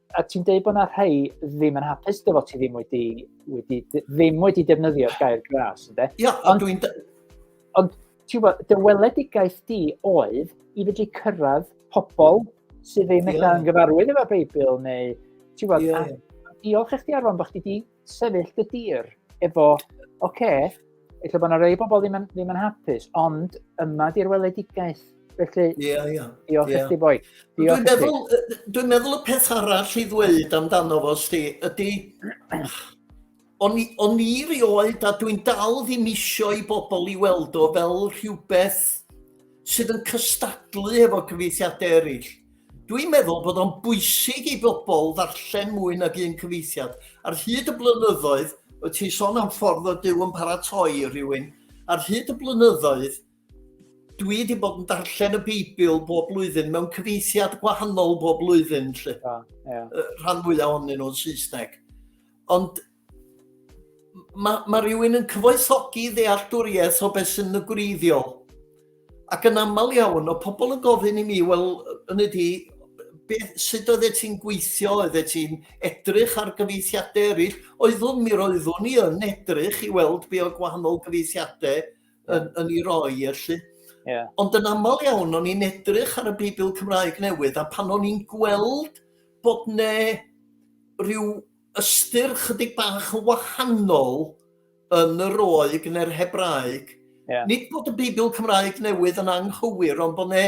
Speaker 1: a ti'n dweud bod yna rhai ddim yn hapus dy fod ti ddim wedi, wedi, ddim wedi defnyddio'r gair gras, ynddo? Ia, ond dwi'n...
Speaker 2: Ond,
Speaker 1: ti'n gwybod, dy weledigaeth di oedd i fedru cyrraedd pobl sydd ddim yeah. yn gyfarwydd efo'r Beibl, neu, ti'n gwybod, yeah. diolch i chdi arfon bod chdi wedi sefyll dy dir efo, oce, okay, efallai bod yna rei bobl ddim yn, ddim yn hapus, ond yma di'r weledigaeth. Felly, yeah, yeah. diolch yeah. i boi. Dwi'n meddwl,
Speaker 2: dwi meddwl y peth arall i ddweud amdano fo, sti, ydy... O'n i, on i rioed, a dwi'n dal ddim isio i bobl i weld o fel rhywbeth sydd yn cystadlu efo cyfeithiadau eraill. Dwi'n meddwl bod o'n bwysig i bobl ddarllen mwy nag un cyfeithiad. Ar hyd y blynyddoedd, wyt ti'n sôn am ffordd o Dyw yn paratoi rhywun, ar hyd y blynyddoedd, dwi wedi bod yn darllen y Beibl bob blwyddyn mewn cyfeithiad gwahanol bob blwyddyn, lle. Yeah, yeah. Rhan fwyaf ohonyn nhw'n Saesneg. Ond mae, mae rhywun yn cyfoethogi ddealltwriaeth o beth sy'n y gwreiddiol. Ac yn aml iawn, o pobl yn gofyn i mi, wel, yn ydy, beth, sut oeddet ti'n gweithio, oeddet ti'n edrych ar gyfeithiadau eraill, oeddwn mi roeddwn i yn edrych i weld be o gwahanol gyfeithiadau yn, yn ei roi, felly. Yeah. Ond yn aml iawn, o'n i'n edrych ar y Beibl Cymraeg newydd, a pan o'n i'n gweld bod ne rhyw ystyr chydig bach yn wahanol yn y roeg neu'r Hebraeg. Yeah. Nid bod y Beibl Cymraeg newydd yn anghywir, ond bod yna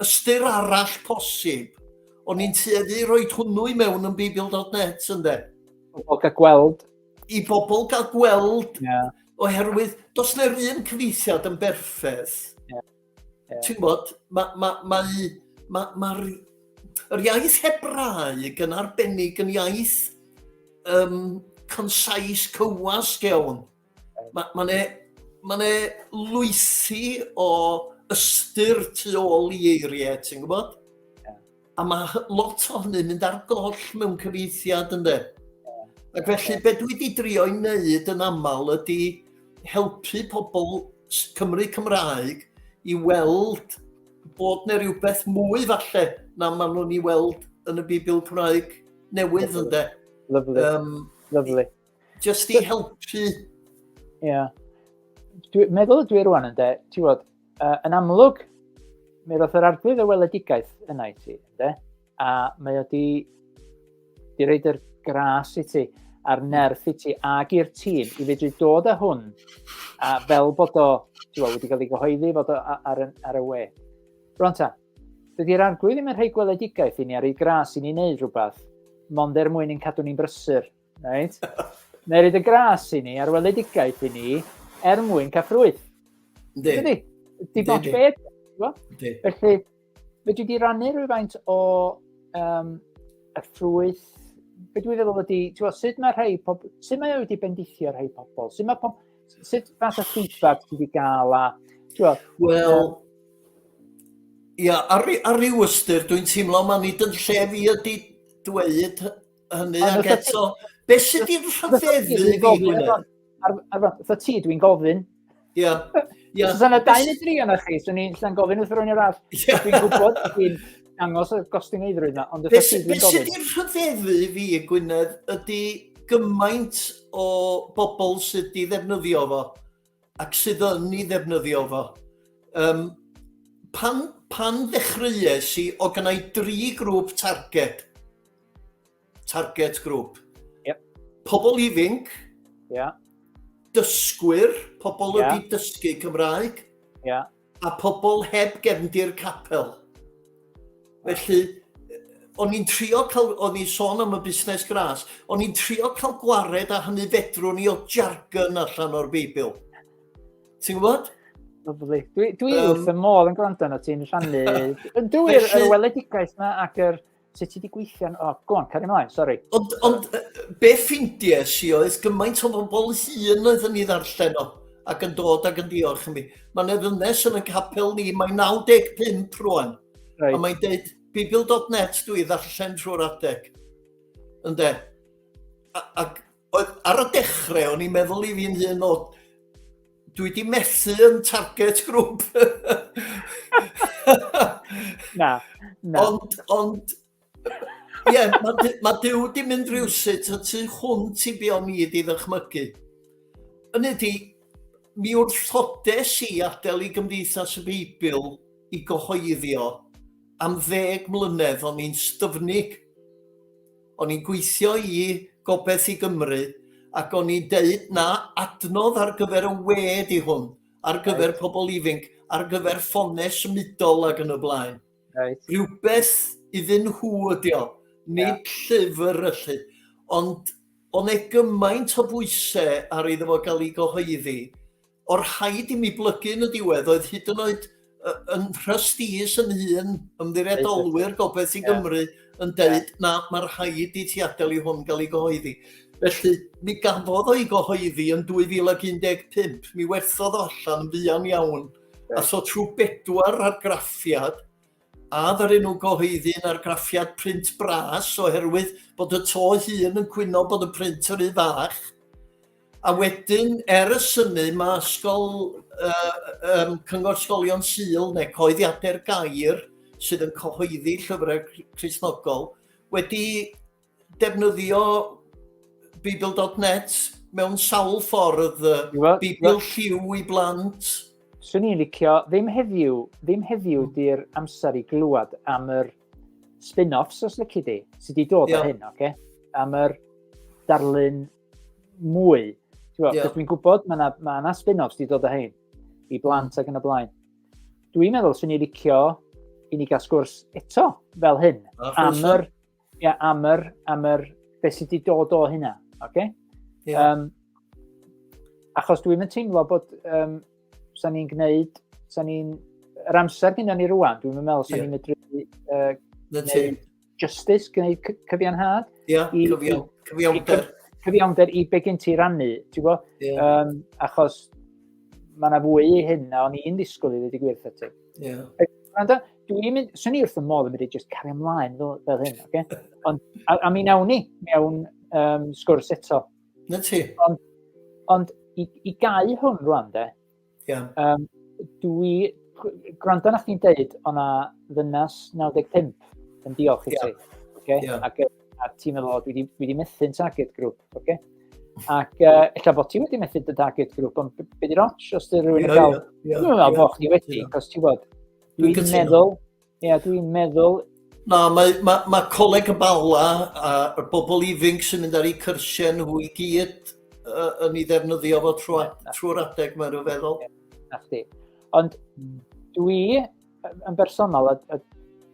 Speaker 2: ystyr arall posib. O'n i'n tueddu roi hwnnw i mewn yn Beibl.net, ynddo? I bobl gael gweld.
Speaker 1: I bobl gael gweld,
Speaker 2: yeah. oherwydd dos neu'r un cyfeithiad yn berffaith. Yeah. Yeah. Ti'n gwybod, mae... Ma, ma, ma, ma, yr iaith Hebraeg yn arbennig yn iaith um, concise, cywasg iawn. Mae'n ma ne, ma ne lwythi o ystyr tu ôl i eiriau, ti'n gwybod? A mae lot o hynny'n mynd ar goll mewn cyfeithiad ynde. Ac felly be dwi wedi drio i wneud yn aml ydy helpu pobl Cymru Cymraeg i weld bod neu rhywbeth mwy falle na maen nhw'n ei weld yn y Bibl Cymraeg newydd ynde. Lyfli. Um,
Speaker 1: Lyfli. Just
Speaker 2: i helpu. Ie. Yeah.
Speaker 1: Dwi, meddwl dwi rwan yn de, ti'n bod, uh, yn amlwg, mi roedd yr arglwydd y weledigaeth yna i ti, de? a mae o di, di reid yr gras i ti a'r hmm. nerth i ti ag i'r tîm i fedru dod â hwn a fel bod o tiwa, wedi cael ei gyhoeddi fod o ar, ar y we. Rwan ta, dydy'r arglwydd ddim yn rhoi gweledigaeth i ni ar ei gras i ni wneud rhywbeth, mond er mwyn i'n cadw ni'n brysur Right? Neu y gras i ni, ar weledigaeth i ni, er mwyn cael ffrwyth. Ynddi. Ynddi. Dim ots beth. Felly, fe dwi wedi rannu rhywfaint o um, y ffrwyth be dwi feddwl ydy, ti'n sut mae rhai pobl, sut mae wedi bendithio rhai pobl, sut mae pobl, sut fath o feedback ti wedi gael a, ti'n Wel,
Speaker 2: ia, ar, ar ryw ystyr, dwi'n teimlo mae nid yn lle fi ydy dweud hynny ac eto, beth sydd wedi rhyfeddu fi, Gwynedd? Fytho
Speaker 1: ti, dwi'n gofyn. Ia.
Speaker 2: Ia. Os yna
Speaker 1: dau neu dri yna chi, swn i'n llan gofyn wrth rwy'n arall. Dwi'n gwybod, dwi'n dangos y gostyngeidrwydd yna, ond fytho ti, dwi'n gofyn. Beth sydd
Speaker 2: wedi rhyfeddu fi, Gwynedd, ydy gymaint o bobl sydd wedi ddefnyddio fo. ac sydd yn ei ddefnyddio fo. Um, pan, pan ddechreuais i, o gynnau dri grŵp target. Target grŵp. Yep.
Speaker 1: Pobl ifinc.
Speaker 2: Yeah. Dysgwyr, pobl yeah. wedi dysgu Cymraeg. Yeah. a pobl heb gefndir capel. Felly, o'n i'n trio cael, o'n i'n sôn am y busnes gras, o'n i'n trio cael gwared a hynny fedrwn ni o jargon allan o'r Beibl. Ti'n gwybod? Lovely. Dwi,
Speaker 1: dwi um, wrth y modd yn gwrando yna ti'n rhannu. Dwi'n yr weledigaeth yna ac yr sut ti wedi gweithio? O, oh, gwan, cario ymlaen, sori. Ond, ond
Speaker 2: be ffindies i oedd gymaint o bobl hun oedd yn ei ddarllen o ac yn dod ac yn diolch i mi. Mae'n eddynes yn y capel ni, mae 95 rwan. Right. A mae'n dweud, bibl.net dwi ddarllen trwy'r adeg. Ynde? Ac Oedd, ar y dechrau, o'n i'n meddwl i fi'n hyn o, dwi wedi methu yn target grŵp.
Speaker 1: na, na. Ond,
Speaker 2: ond, ie, yeah, mae ma Dyw wedi mynd rhywsut y tu hwnt i fi o'n i wedi ddychmygu. Yn ydy, mi wrthodes i adael i Gymdeithas y Beibl i gyhoeddio am ddeg mlynedd o'n i'n styfnig. O'n i'n gweithio i Gobaith i Gymru ac o'n i'n deud na adnodd ar gyfer y we di hwn, ar gyfer right. pobl ifinc, ar gyfer ffonau symudol ac yn y blaen. Right. Rhywbeth iddyn nhw ydi o, nid yeah. llyfr yllu. Ond o'n e gymaint o bwysau ar iddo fo gael ei gyhoeddi, O'r rhaid i mi blygu yn y diwedd oedd hyd yn oed yn rhystis yn hun, ymddiriedolwyr Gobaith i Gymru, yn dweud na, mae'r rhaid i ti adael i hwn gael ei gyhoeddi. Felly, mi gafodd o'i gyhoeddi yn 2015, mi werthodd o allan yn fuan iawn, a so trwy bedwar argraffiad, A ddaru nhw gyhoeddi'n argraffiad print bras oherwydd bod y to hun yn cwyno bod y print yr un fach. A wedyn, er y synu, mae ysgol, uh, um, Cyngor Sgolion Sul neu Coeddiadau'r Gair sydd yn cyhoeddi llyfrau Crisnogol wedi defnyddio Beeble.net mewn sawl ffordd, Beeble lliw i blant. Swn i'n licio,
Speaker 1: ddim heddiw, ddim heddiw hmm. di'r amser i glywed am yr spin-offs os lyci di, sydd wedi dod yeah. o hyn, oce? Okay? Am yr darlun mwy. Yeah. Dwi'n gwybod, mae yna ma, na spin-offs wedi dod o hyn, i hmm. blant mm. ac yn y blaen. Dwi'n meddwl swn i'n licio i ni gael sgwrs eto fel hyn, am yr Ie, yeah, am yr, am yr, beth sydd wedi dod o hynna, oce? Okay? Yeah. Um, achos dwi'n mynd teimlo bod um, sa'n ni'n gwneud, sa'n ni'n, yr amser gyda ni rwan, dwi'n mynd meddwl sa'n yeah. ni'n medru uh, gwneud justice, gwneud cyfiawnhad. Ie, yeah, cyfiawn, cyfiawnder. Cyfiawnder i be gen ti rannu, ti'n gwybod? Yeah. Um, achos mae yna fwy i hyn na o'n i'n disgwyl i ddweud i gwirth ati. Yeah. dwi'n mynd, sy'n ni wrth y modd yn mynd i just cario ymlaen fel, fel hyn, oce? Okay? Ond, a, a mi nawn ni mewn um, sgwrs eto. Na ti. Ond,
Speaker 2: ond
Speaker 1: i, i gau hwn rwan, de, yeah. um, dwi, gwrando na chdi'n deud, o'na ddynas 95 yn diolch i yeah. ti. Okay? Yeah. Ac, a ti'n meddwl, dwi wedi, dwi wedi methu'n target grŵp, oce? Okay? Ac uh, illa bod ti wedi methu dy target grŵp, ond beth i'r ots os dy rhywun yn cael... Dwi'n meddwl bod chdi wedi, cos ti'n bod, Dwi'n meddwl, ie, yeah, dwi'n meddwl... Na, mae,
Speaker 2: mae, mae coleg y bala a y bobl ifinc sy'n mynd ar eu cyrsiau nhw i gyd uh, yn ei ddefnyddio fo trwy'r trwy adeg, mae'n rhyw feddwl. Na chdi.
Speaker 1: Ond dwi yn bersonol, a, a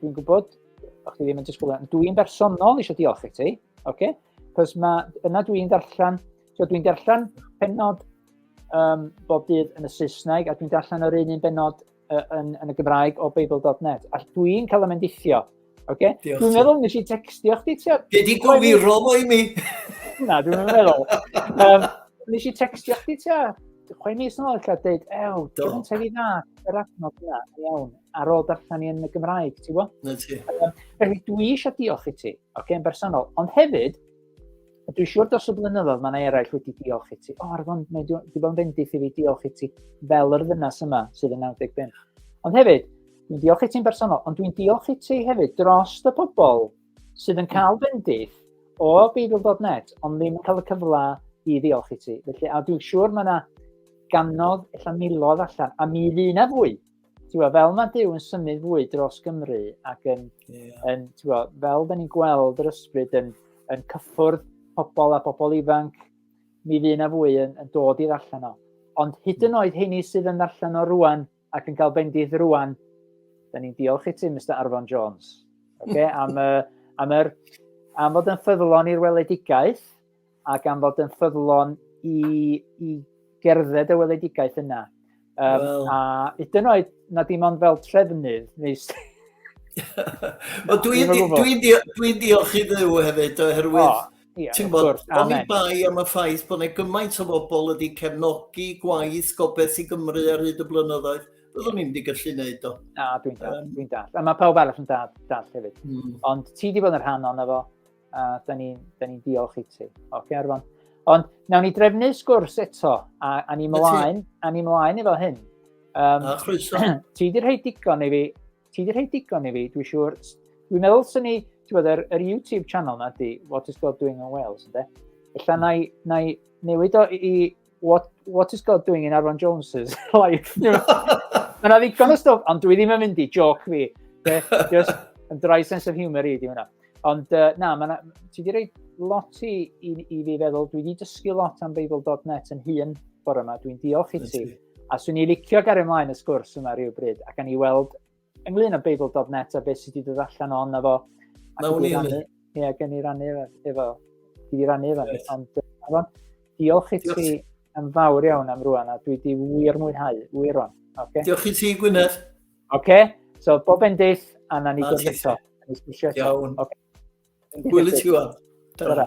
Speaker 1: dwi'n gwybod, o'ch chi ddim yn disgwyl, dwi'n bersonol eisiau diolch i ti, oce? Okay? Cos mae, yna dwi'n darllen, so dwi'n darllen penod um, bob dydd yn y Saesneg, a dwi'n darllen yr un un benod uh, yn, yn y Gymraeg o Beibl.net. A dwi'n cael y mendithio. Okay? Dwi'n meddwl nes i textio chdi. Be di gofiro
Speaker 2: fo i mi? Na, dwi'n
Speaker 1: meddwl. Um, nes i textio chdi tua chwe mis yn ôl, eich dweud, ew, dwi'n tefi dda, yr adnod yna, iawn, ar ôl darllen i yn y Gymraeg, ti'n gwybod? Na ti.
Speaker 2: Felly, dwi
Speaker 1: eisiau diolch i ti, oce, okay, yn bersonol, ond hefyd, A dwi'n siŵr dros y blynyddoedd mae yna eraill wedi diolch i ti. O, ar fon, mae wedi bod yn fendith i fi diolch i ti fel yr ddynas yma sydd yn 95. Ond hefyd, dwi'n diolch i ti'n bersonol, ond dwi'n diolch i ti hefyd dros y pobl sydd yn cael bendith o Beibl.net, ond ddim yn cael y cyfle i ddiolch i ti. Felly, a dwi'n siŵr mae yna ganodd, illa milodd allan, a mi fydd yna fwy Tewa, fel mae Dyw yn symud fwy dros Gymru ac yn, yeah. yn tewa, fel da ni'n gweld yr ysbryd yn, yn cyffwrdd pobl a pobl ifanc, mi fydd yna fwy yn, yn dod i'r allan o. Ond hyd yn hmm. oed heini sydd yn allan o rwan ac yn cael bendith rwan, da ni'n diolch i ti, Mr Arfon Jones, okay? am, uh, am, er, am fod yn ffyddlon i'r weledigaeth, a gan fod yn ffyddlon i, i gerdded y weledigaeth yna. Um, well. A hyd yn oed na dim ond fel trefnydd, neu Wel, dwi'n
Speaker 2: dwi, dwi, dwi, dwi diolch i ddew hefyd, oherwydd, oh, yeah, ti'n bod, oni bai am y ffaith bod yna gymaint o bobl wedi cefnogi gwaith gobeith i Gymru ar hyd y blynyddoedd, byddwn ni'n wedi gallu gwneud o. Na, dwi'n dall, um, dwi'n dall. A mae pawb arall yn dall, dall hefyd. Mm. Ond ti wedi bod yn rhan o'n efo, a da ni'n ni, ni diolch i ti. Oce, okay, Arfon. Ond nawn ni drefnu sgwrs eto, a, a ni mlaen, a ni mlaen efo hyn. Um, a chroeso. ti di rhoi
Speaker 1: digon i fi, ti di rhoi digon i fi, dwi'n siŵr. Dwi'n meddwl sy'n ni, ti'n bod, yr, yr YouTube channel na di, What is God Doing in Wales, ynddo? Ella na i, na i newid o i, i what, what is God doing in Arfon Jones's life? You know? Mae'n ddigon o stwff, ond dwi ddim yn mynd i joc fi. Just yn dry sense of humour i, di hwnna. Ond uh, na, ma ti wedi rhoi lot i, i, i fi feddwl, dwi wedi dysgu lot am Beibl.net yn hun bore yma, dwi'n diolch i ti. A swn i licio gario ymlaen y sgwrs yma rhyw bryd, ac gan i weld Ynglyn â Beibl.net a beth sydd wedi dod allan o hwnna fo. Mae hwn i'n... Ie, gen i rannu efo. efo. Dwi wedi rannu efo. Yes. Ond, efo, diolch i ti yn fawr iawn am rwan, a dwi wedi wir mwynhau, wir rwan. Okay? Diolch i ti,
Speaker 2: Gwynedd. Oce, okay. so
Speaker 1: bob endill, a na ni gwybod eto.
Speaker 2: Iawn.
Speaker 1: Okay. Gwyl i ti
Speaker 2: wan.
Speaker 1: Ta-ra.